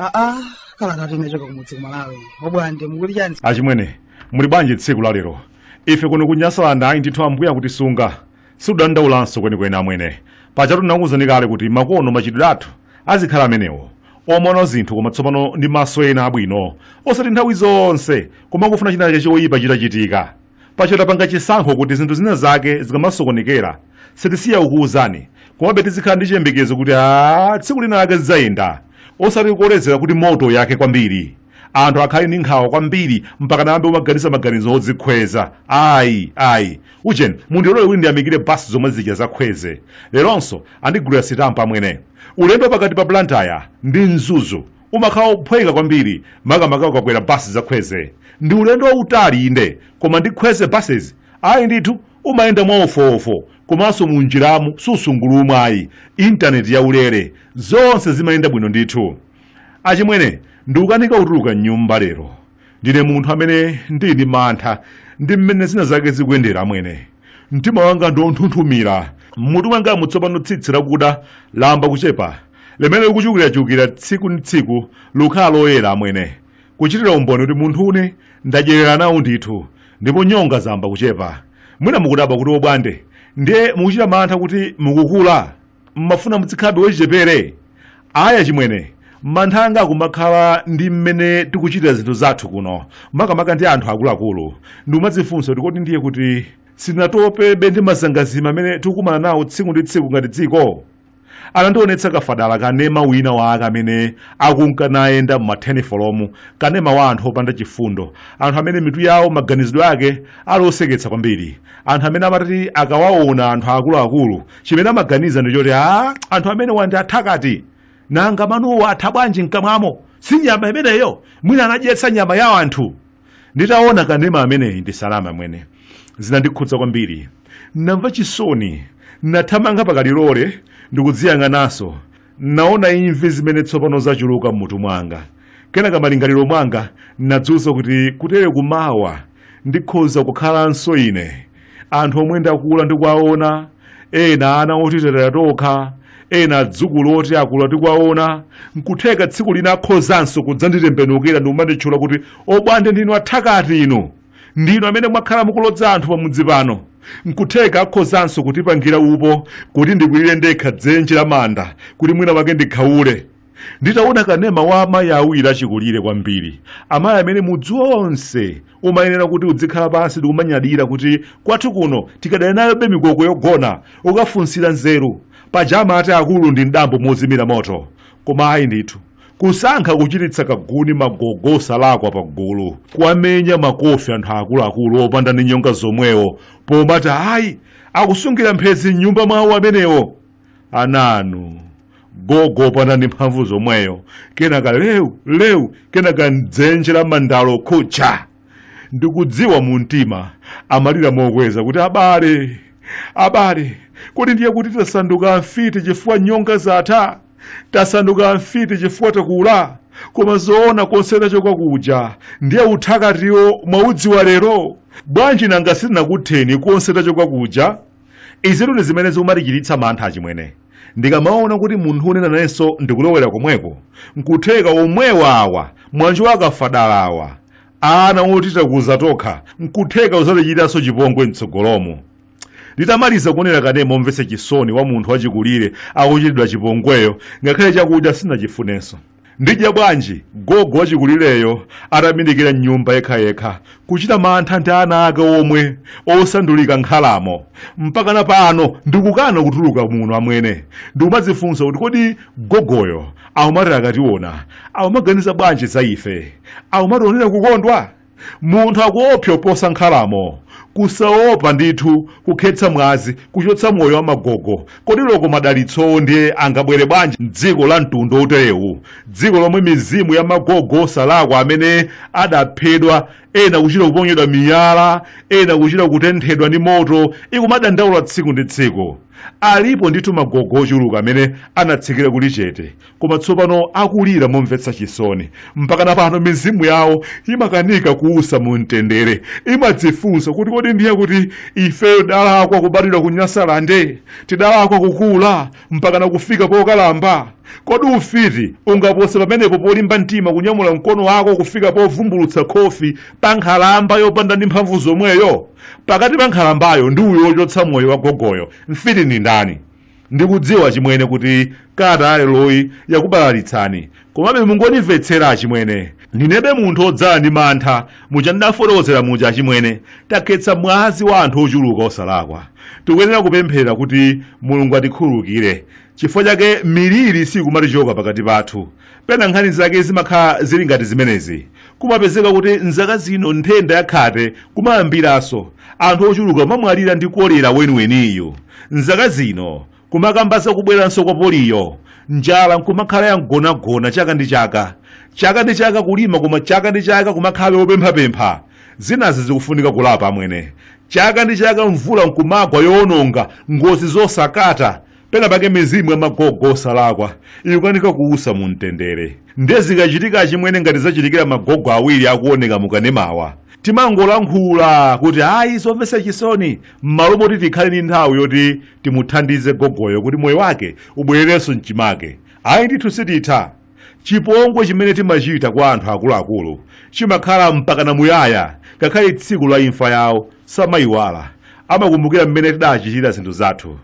aa kalatatu inachoka kumudzi kumalawi obwande mukuti chani achimwene muli bwanji tsiku la lero ife kuno kunyasaland ayi ndithu ambuya kutisunga Sikudandaulanso kwenikweni amwene. Pajatu ndinakuwuzani kale kuti makono machitidwe athu azikhala amenewo, omaona zinthu koma tsopano ndi maso ena abwino, osati nthawi zonse kumangofuna chinachake choyipa chitachitika. Paja tapanga chisankho kuti zinthu zina zake zikamasokonekera, sitisiya kukuwuzani, komabe tizikhala ndi chiyembekezo kuti aah tsiku lina lake zidzayenda, osati kukolezera kuti moto uyake kwambiri. anthu akhale ndi nkhawa kwambiri mpaka nayambe umaganiza maganizo odzikhweza ayi ayi ujeni mundilole kuti ndiyamikire basi zomwe zija za kwezy leronso andigulira sitampa amwene ulendo wa pakati pa blantyre ndi mzuzu umakhala ophweka kwambiri makamaka ukakwera basi za kwezy ndi ulendo wautali inde koma ndi kwezy buses ayi ndithu umayenda mwawofuwofu komanso mu njiramu susungulumwa ayi intaneti yaulere zonse zimayenda bwino ndithu Achimwene, ndikukanika kutuluka m'nyumba lero. Ndine munthu amene ndili ndi mantha ndi mmene zina zake zikuyendera amwene. Mtima wanga ndi wonthunthumira. M'mutu mwangamu tsopano tsitsi lakuda layamba kuchepa, limene likuchulukirachulukira tsiku ndi tsiku likukhala loyera amwene, kuchitira umboni kuti munthune ndadyerera nawo ndithu, ndipo nyonga zayamba kuchepa. Mwina mukudabwa kuti Obwande, ndiye mukuchita mantha kuti mukukula? mmafuna mudzikhalabe wachichepere ayi achimwene mantha anga akumakhala ndi mmene tikuchitira zinthu zathu kuno makamaka ndi anthu akuluakulu ndikumadzifunsa kuti kodi ndiye kuti sitinatopebe ndi mazangazime amene tikukumana nawo tsiku ndi tsiku ngati dziko anandionetsa kafadala kanema wina wake amene akunka nayenda mumathenifolomu kanema wa anthu opanda chifundo anthu amene mitu yawo maganizidwe ake ali oseketsa kwambiri anthu amene amati akawaona anthu akuluakulu chimene amaganiza ndi choti a anthu amenewa ndi athakati nanga manowo atha bwanji mkamwamo si nyama imeneyo mwina anadyetsa nyama ya anthu nditaona kanema ameneyi ndisaname amwene zinandikhudza kwambiri namva chisoni nathamanga pakalilole ndikudziyang'ananso naona imvi zimene tsopano zachuluka m'mutu mwanga kenaka malingaliro mwanga nadziwuza kuti kutere kumawa ndikhoza kukhalanso ine anthu omwe ndakula ndikuwaona ena ana oti talera tokha ena adzukulu oti akula tikuwaona nkutheka tsiku lina akhozanso kudzanditembenukira ndikumanditchula kuti obwande ndinu athakati inu ndinu amene mwakhala mukulodza anthu pamudzi pano nkutheka akhozanso kutipangira upo kuti ndikwirire ndekha dzenje la manda kuti mwina wake ndikhaule nditaona kanema wa amayi awiri achikulire kwambiri amayi amene mudzi wonse umayenera kuti udzikhala pansi ndikumanyadira kuti kwathu kuno tikadali nayobe mikoko yogona ukafunsira nzeru paja amati akulu ndi mdambo mozimira moto koma ayi ndithu kusankha kuchititsa kaguni magogo osalakwa pa gulu kuwamenya makofi anthu akuluakulu opanda ndi nyonga zomwewo pomati ayi akusungira mphezi m'nyumba mwawo amenewo ananu gogo opanda ndi mphamvu zomweyo kenaka lewu lewu kenaka mdzenje la mandalo khucha ndikudziwa mu mtima amalira mokweza kuti abale abale kodi ndiye kuti tasanduka mfiti chifukwa nyonga zatha tasanduka mfiti chifukwa takula koma zoona konse tachoka kuja ndiye uthakatiwo mwaudziwa lero bwanji nanga sitinakutheni konse tachoka kuja izitu ndi zimene zikumatichititsa mantha achimwene ndikamaona kuti munthune nanenso ndikulowera komweko nkutheka omwewa awa mwanji wakafadalawa ana oti takuza tokha nkutheka kuzatichitanso chipongwe mtsogolomo Nditamaliza kuonera kanema womvetsa chisoni wa munthu wachikulire akuchitidwa chipongweyo, ngakhale chakudya sindinachifunenso. Ndidya bwanji gogo wachikulireyo atabindikira m'nyumba yekhayekha, kuchita mantha ndi ana ake omwe osandulika nkhalamo? Mpakana pano ndikukana kutuluka muno amwene. Ndikumadzifunsa kuti kodi gogoyo akumati akationa akumaganiza bwanji za ife? Akumationera kukondwa? munthu akuopsa kuposa nkhalamo kusaopa ndithu kukhetsa mwazi kuchotsa moyo wa magogo kodi loko madalitsowo ndiye angabwere bwanji mdziko la mtundu woterewu dziko lomwe mizimu ya magogo osalakwa amene adaphedwa ena kuchita kuponyedwa miyala ena kuchita kutenthedwa ndi moto ikumadandaula tsiku ndi tsiku alipo ndithu magogo ochuluka amene anatsikira kuli chete koma tsopano akulira momvetsa chisoni mpakana pano mizimu yawo imakanika kuusa mu mtendere imadzifunsa kuti kodi ndiye kuti ifeyo tidalakwa kubadwira ku nyasalande tidalakwa kukula mpakana kufika pokalamba kodi ufiti ungapose pamenepo polimba mtima kunyamula mkono wako kufika povumbulutsa khofi pa nkhalamba yopanda ndi mphamvu zomweyo pakati pa nkhalambayo ndi uyo wochotsa moyo wa gogoyo mfiti ndi ndani Ndikudziwa achimwene kuti kalata ya leroyi yakubalalitsani, komabe mungondimvetsera achimwene. Ndinebe munthu wodzala ndi mantha, muja ndidafotokozera muja achimwene. Takhetsa mwazi wa anthu ochuluka osalakwa. Tikuyenera kupemphera kuti Mulungu atikhululukire. Chifukwa chake miliri siyikumatichoka pakati pathu. Pena nkhani zake zimakhala zili ngati zimenezi. Kumapezeka kuti m'zaka zino nthenda ya khate kumayambiranso, anthu ochuluka kumamwalira ndi kolera weniweniyu. M'zaka zino, kumakamba za kubweranso kwa poliyo, njala n'kumakhala ya mgonagona chaka ndi chaka. Chaka ndi chaka kulima koma chaka ndi chaka kumakhalabe wopemphapempha. Zinazi zikufunika kulapa amwene. Chaka ndi chaka mvula n'kumagwa yowononga, ngozi zosakata, pena pake mizimu ya magogo osalakwa ikukanika kuusa mu mtendere ndiye zikachitika achimwene ngati zachitikira magogo awiri akuoneka mukanemawa timangolankhula kuti ayi zomvetsa chisoni m'malo moti tikhale ndi nthawi yoti timuthandize gogoyo kuti moyo wake ubwererenso mchimake ayi ndithu sititha Chipongwe chimene timachita kwa anthu akuluakulu chimakhala mpakana muyaya, ngakhale tsiku la imfa yawo samaiwala. Amakumbukira mmene tidachitira zinthu zathu.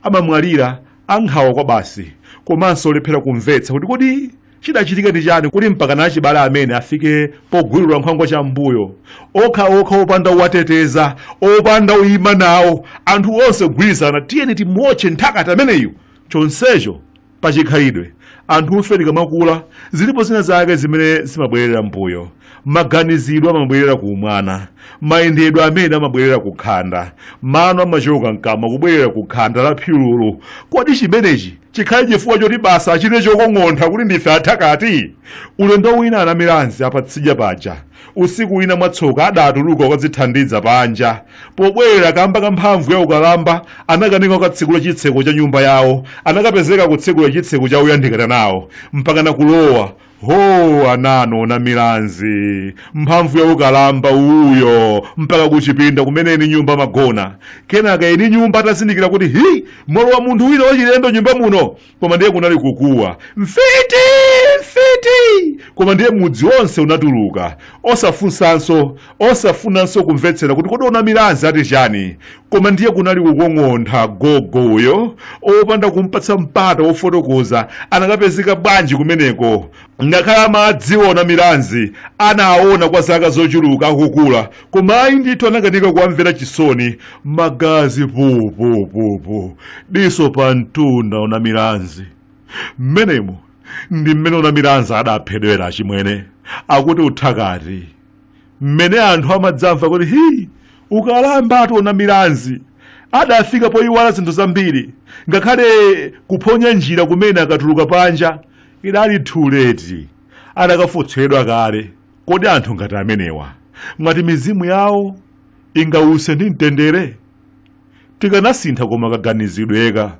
Amamwalira a nkhawa kwabasi komanso olephera kumvetsa kuti kodi chidachitika ndi chani kuti mpakana achibale amene afike pogwirira nkhwangwa cham'mbuyo. Okhaokha opanda owateteza, opanda oima nawo, anthu onse kugwirizana tiyeni timuotche mthakati ameneyu, chonsecho Pachikhalidwe, anthufe tikamakula, zilipo zina zake zimene zimabwerera m'mbuyo. Maganizidwe amabwerera ku umwana, mayendedwe amene amabwerera ku khanda, mano amachoka m'kamwa kubwerera ku khanda la phyululu. Kodi chimenechi chikhale chifukwa choti basi achite chokong'ontha kuti ndife athakati? Ulendo wina a Namilanzi apatsidya paja usiku wina mwatsoka adatuluka kukadzithandiza panja pobwerera kamba ka mphamvu ya ukalamba anakanika kukatsekula chitseko cha nyumba yawo anakapezeka kutsekula chitseko cha oyandikana nawo mpakana kulowa ho onano o Namilanzi mphamvu ya ukalamba uyo mpaka kuchipinda kumene eni nyumba amagona kenaka eni nyumba atazindikira kuti hi mwalowa munthu wina wachilendo m'nyumba muno koma ndiye kunali kukuwa mfiti mfiti koma ndiye mudzi wonse unatuluka osafunsanso osafunanso kumvetsera kuti kodi o Namilanzi ati chani koma ndiye kunali kukong'ontha gogo uyo opanda kumpatsa mpata wofotokoza anakapezeka bwanji kumeneko ngakhale amadziwa o Namilanzi anawaona kwa zaka zochuluka akukula koma ayi ndithu anakanika kuwamvera chisoni magazi pupupupu diso pa mtunda o Namilanzi mmenemo ndi mmene o Namilanzi adaphedwera achimwene akuti uthakati mmene anthu amadzamva kuti hi ukalambatu o Namilanzi adafika poyiwala zinthu zambiri ngakhale kuphonya njira kumene akatuluka panja idali too late adakafotseredwa kale kodi anthu ngati amenewa mwati mizimu yawo ingause ndi mtendere tikanasintha koma kaganizidweka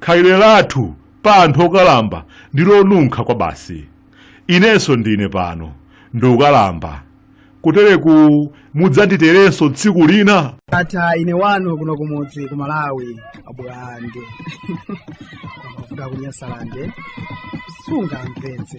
khalidwe lathu pa anthu okalamba ndi lonunkha kwabasi inenso ndine pano ndikukalamba kutereku mudzanditerenso tsiku lina tatha ine wanu kuno kumudzi ku malawi abulande amavuta kunyasalande sungamvetse